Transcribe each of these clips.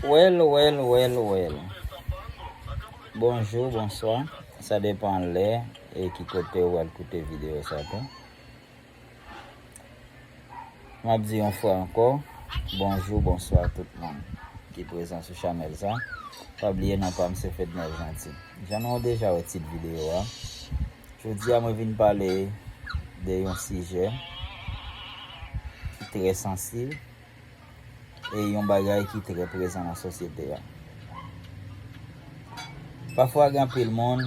Wèl wèl wèl wèl Bonjou bonswa Sa depan lè e ki kote ou al koute videyo sa tou M ap di yon fwa ankò Bonjou bonswa tout moun ki prezan sou chanèl sa Pa bliye non pa m se Fedner Jeanty Jan nou deja wè tit videyo a Jodi a mwen vin pale de yon sijè ki trè sansib e yon bagay ki trè prezan nan sosyete a. Pafwa gen anpil moun,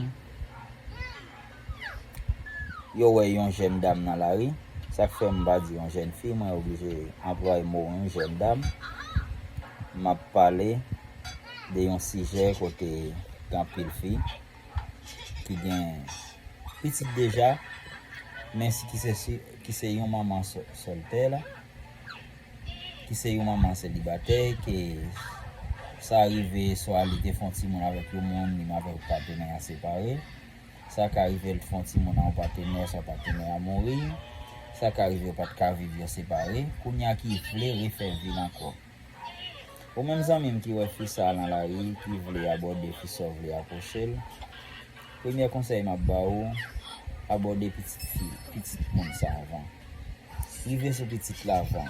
yo wè yon jèn dam nan lari, sa k fè m pa di yon jèn fi, mwen oblije anplwaye mo yon jèn dam, m ap pale de yon sijè kote gen anpil fi ki gen pitit deja, men ki se yon manman soltè. ki se yon manman selibatè ke sa rive swa li te fè yon timoun avèk yon moun li menm avèk patenè a separe sa ka rive li te fè yon timoun ak yon patenè oswa patenè a mouri sa ka rive yo pa t ka viv yo separe kounye a ki vle refè vi l ankò ou menm zanmi m ki wè fi sa nan lari ki vle abòde fi sa ou vle apwoche l premye konsèy m ap ba ou abòde pitit fi pitit moun sa avan. Rive sou pitit la avan.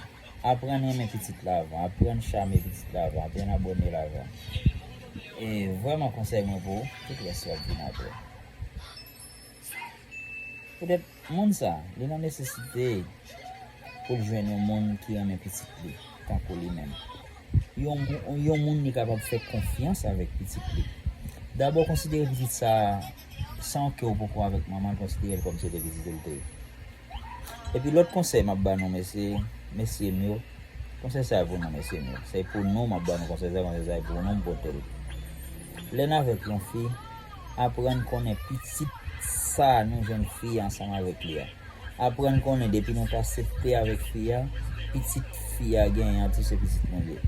Aprann renmen pitit la avan. Aprann chame pitit la avan. Aprann abone l avan. E vreman konsey mwen pou ou. Tout res yo ap vini apre. Poutet moun sa. Li nan nesesite pou l jwenn yon moun ki renmen pitit li. Tankou li menm. Yon moun li kapab fe konfyans avek pitit li. Dabor konsidere pitit sa. San ke ou poko avek manman l konsidere l kom se te pitit ou l te. Epi lòt konsèy map ba nou mesye mesyem yo konsèy sa pou nou mesyem yo se pou nou map ba nou konsèy sa konsèy sa e pou nou m potel lèn avèk yon fi aprann konnen pitit sa nou jwenn fi a ansanm avèk li a aprann konnen depi nou ta septe avèk fi a pitit fi a genyen an tou se pitit nou l ye.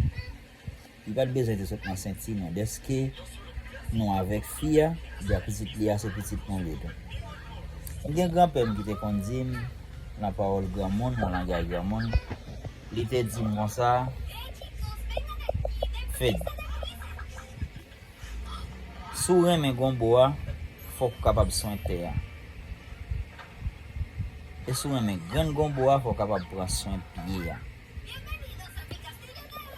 Li pat bezwen te sot nan senti nou deske nou avek fi a ebyen pitit li a se pitit nou li tou. Mwen gen gran pèm ki te konn dim nan pawol gran moun nan langay gran moun li te dim konsa Fed si w renmen gonbo a fok w kapab swen tè a e si w renmen grenn gonbo a fok w kapab pran swen pye a.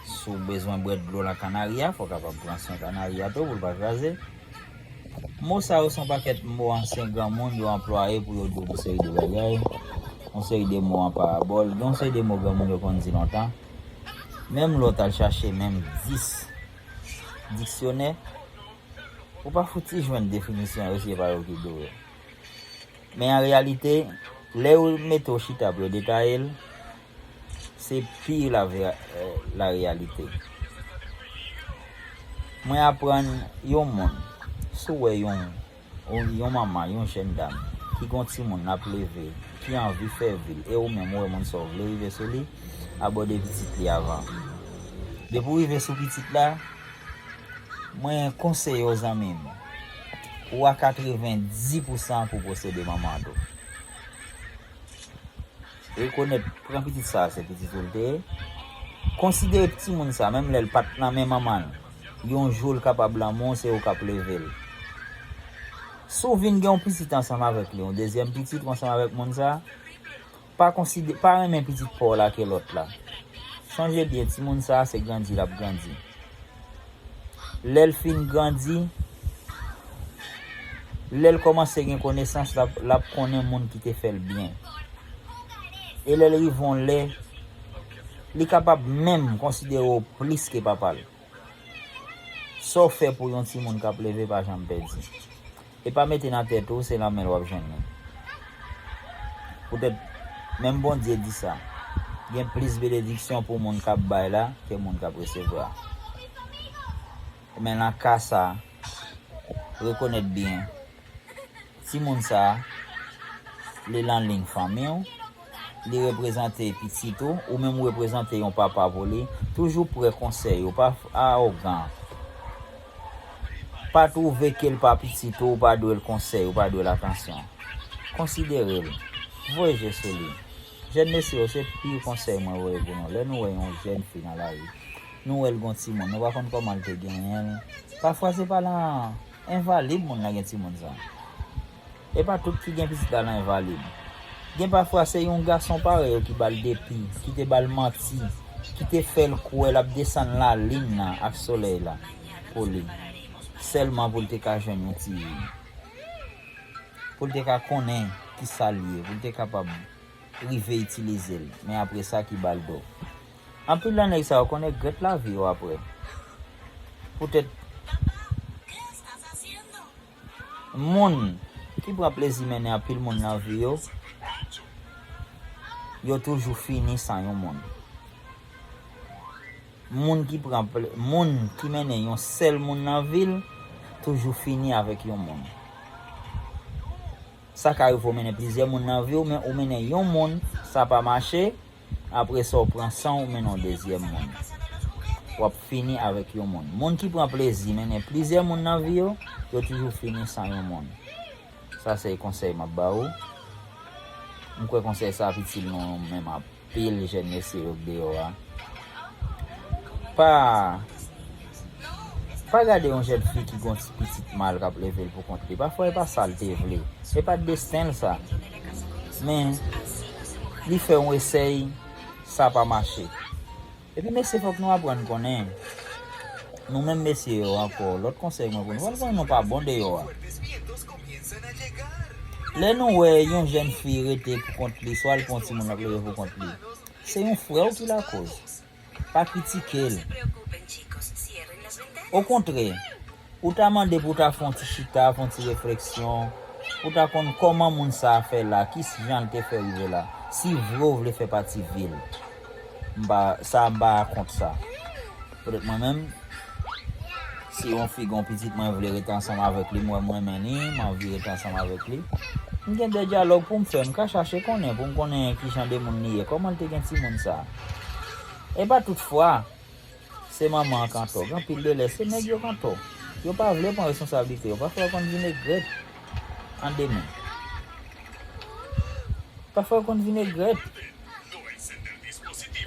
Si w bezwen bwè dlo lan kanari a, fò w kapab pran swen kanari a tou pou l pa kraze. Mo sa yo se yon pakèt mo ansyen granmoun yo anplwaye pou yo di w yon seri de bagay, yon seri de mo an parabòl. Gen yon seri de mo granmoun yo konn di lontan, menm lè w t al chache menm dis diksyonè, ou pa fouti jwenn definisyon yo si se pa yo ki di w yo. Men an reyalite, lè yo mete w chita pou yo detaye l, Se pi la reyalite. Mwen aprann yon moun, si w wè yon manman, yon jèn dam, ki gen yon timoun l ap leve, ki anvi fè vi l, e ou menm ou wè moun sa ou vle rive sou li, abòde pitit li avan. Depi w rive sou pitit la, mwen konseye w zanmi m, ou a katrevendi pousan pou w posede manman tou. Rekonèt pran pitit sa a se pitit ou l te ye. Konsidere ptimoun sa a, menm lè l pa t nan men manman l, yon jou l kapab lanmou w, se ou k ap leve l. Si w vin gen yon pitit ansanm avèk li, yon dezyèm pitit ou ansanm avèk moun sa a, pa konside, pa renmen pitit pa w la ke lòt la. Sonje byen, timoun sa a se grandi l ap grandi. lèl fin grandi, lèl kòmanse gen konesans lap konnen moun ki te fèl byen. E lèl rive yon lè, li kapab menm konsidere w plis ke papa l. Sa w fè pou yon timoun kap leve pa janm pèdi. Epa mete nan tèt ou se lanmèl wap jwenn li poutèt menm Bondye di sa gen plis benediksyon pou moun kap bay la ke moun kap resevwa men lan ka sa rekonèt byen timoun sa li lan lign fanmiw Li reprezante pitit ou, ou menm ou reprezante yon papa pou li. Toujou pre konsèy ou, pa awogan. Pa twouve ke l pa pitit ou, ou pa dwe l konsèy, ou pa dwe l atansyon. Konsidere l. Voye je sou li. Jèn mesye yo, se pi konsèy mwen voye pou nou. Lè nou wè yon jèn fi nan lari, nou wè l gon timoun, nou pa konn kòman l te genyen l. Pafwa se pa lan envalid moun lan gen timoun sa. E pa tout ki gen pitit la nan envalid. Gen pafwa se yon gason parèy yo ki ba l depi, ki te ba l manti, ki te fè l kwè l ap desann lalin nan ak solèy la pou li, sèlman pou l te ka jwenn yon ti vi. Pou l te ka konnen ki sa l ye, pou l te kapab rive itilize l, men apre sa ki ba l do. Anpil nan nèg sa yo konn egrèt lavi yo apre, poutèt. Moun ki pran plezi mennen anpil moun nan vi yo, yo toujou fini san yon moun. Moun ki pran moun ki mennen yon sèl moun nan vi l, toujou fini avèk yon moun. Sa ka rive ou mennen plizyè moun nan vi w men ou mennen yon moun sa pa mache, apresa w pran san w mennen yon dezyèm moun. W ap fini avèk yon moun. Moun ki pran plezi mennen plizyè moun nan vi yo, yo toujou fini san yon moun. Sa se konsèy m ap ba ou. M kwè konsèy sa ap itil nou menm anpil jèn mesye yo k deyò a. Pa. Pa gade yon jèn fi ki gen yon ti pitit mal k ap leve l poukont li. Pafwa e pa sa l te vle. Se pa t desten l sa. Men, li fè yon esèy, sa pa mache. Epi mesye fòk nou aprann konnen, nou menm mesye yo ankò, lòt konsèy mwen pou nou, fòk nou konnen nou pa bon deyò a. Lè nou wè yon jèn fi rete poukont li, swa l pou yon timoun l ap leve poukont li, se yon frè w ki lakòz. Pa kritike l. Okontrè, ou ta mande pou w ta fè yon ti chita, fè yon ti refleksyon, pou w ta konn kòman moun sa a fè la, ki jan l te fè rive la, si vre ou vle fè pati vil. M pa, sa a m pa kont sa. Petèt mwen menm, Si yon fi gen yon pitit mwen vle ret ansanm avèk li, m wè m renmen li, m anvi ret ansanm avèk li, m gen de dyalòg pou m fè, m ka chache konnen pou m konnen ki jan de moun li ye, kòman l te gen timoun sa. E pa tout fwa se manman an k antò, gen anpil de lè se nèg yo k antò. Yo pa vle pran responsablite yo, pafwa yo konn vin egrèt an demen. Pafwa yo konn vin egrèt,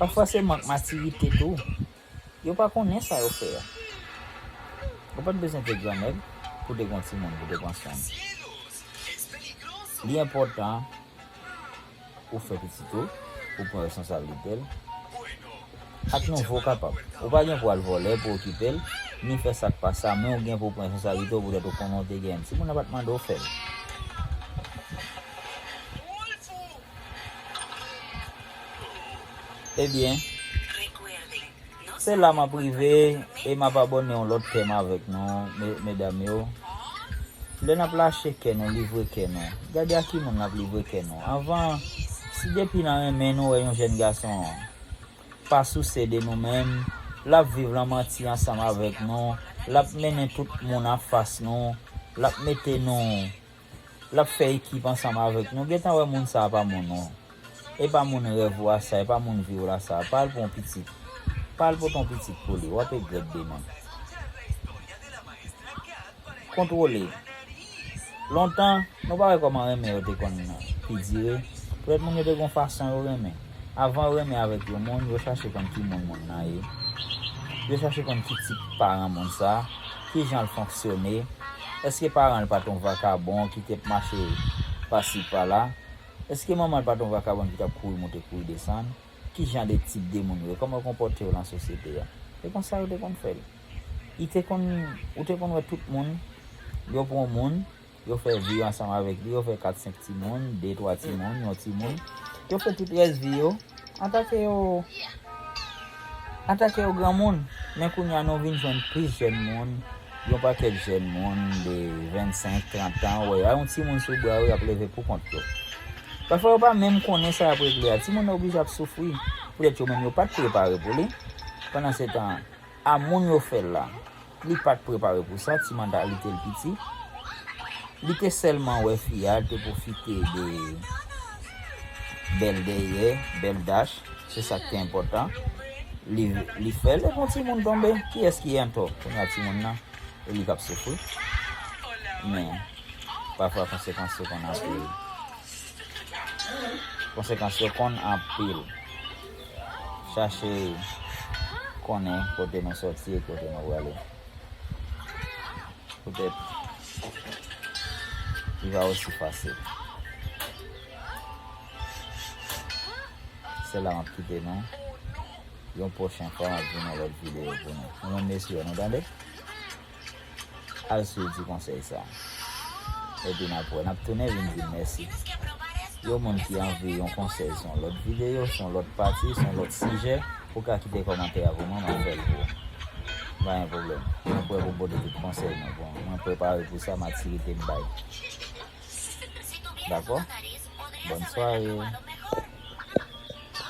pafwa se mank matirite tou. Yo pa konnen sa yo fè a. Ou pat bezwen vye gran nèg pou te gen yon timoun pou te pran swen. Li enpòtan ou fè pitit ou, ou pran responsablite l, ak nou vre ou kapab. Ou pa gen pou al vòlè pou okipe l, ni fè sa k pa sa, men ou gen pou pran responsablite ou poutèt ou konnen ou te gen l. Timoun nan pat mande ou fè l. Ebyen Se la map rive e map abòne yon lòt kèm avèk nou medam yo Lè nap lache kè nou livre kè nou gade a ki moun nap livre kè nou anvan si depi nan renmen nou wè yon jèn gason pa souse de nou menm lap viv lan manti ansanm avèk nou lap mennen tout moun anfas nou lap mete nou Lap fè ekip ansanm avèk nou gentan wè moun sa pa moun ou epa moun rèv ou a sa epa moun viw la sa pa al pou yon pitit pa al pote yon pitit pou li wap egrèt demen kontwole lontan nou pa wè kòman renmen yo te konn pi dire poutèt moun yo te gon fason yo renmen avan yo renmen avèk yon moun yo chache konn ki moun moun nan ye yo chache konn ki tip paran moun sa. Ki jan l fonksyone? Èske paran l pa t yon vakabon ki te ap mache pasi pala? Èske manman l pa t yon vakabon ki t ap kouri monte kouri desann? Ki jan de tip de moun yo ye? Kòman yo konpòte yo lan sosyete a? Se konsa yo te konn fè l. Li te konn, ou te konn wè tout moun, yo pran yon moun. Yo fè vi yo ansanm avèk li, yo fè kat senk timoun, de twa timoun, yon timoun. Yo fè tout rès vi yo, antanke yo, antanke yo granmoun. Men kounye a nou vin jwenn plis jèn moun, yon pakèt jèn moun de 25, 30 tan, ou wè yo a yon timoun sou bra yo, y ap leve pou kont yo. Pafwa yo pa menm konnen sa y ap regle a, timoun nan oblije ap soufri, poutèt yo menm yo pa t prepare pou li, pandansetan. A moun yo fè l la. Li pa t prepare pou sa, ti manda li te l piti. Li te sèlman wè fi a, l te pwofite de bèl dèyè, bèl dach, se sa k te enpòtan. Li fè l, e bon timoun tonbe. Kiyès ki an tò? Kounye a timoun nan, e li k ap soufri. Men, pafwa konsekans yo konn anpil. Konsekans yo konn anpil. chache konnen kote nou soti e kote nou prale. Poutèt, li pa osi fasil. Se la map kite nou. Yon pwochen fwa map vini yon lòt videyo pou nou. Nou menm mesye yo nou tande. Al swiv ti konsèy sa epi n ap wè n ap tounen vin di mèsi yon moun ki anvi yon konsèy son lòt videyo son lòt pati son lòt sijè ou ka kite kòmantè a pou mwen m ap fè l pou ou pa gen pwoblèm mwen prè pou m pote tout konsèy mwen bon mwen prepare pou sa matirite m bay dakò bòn sware.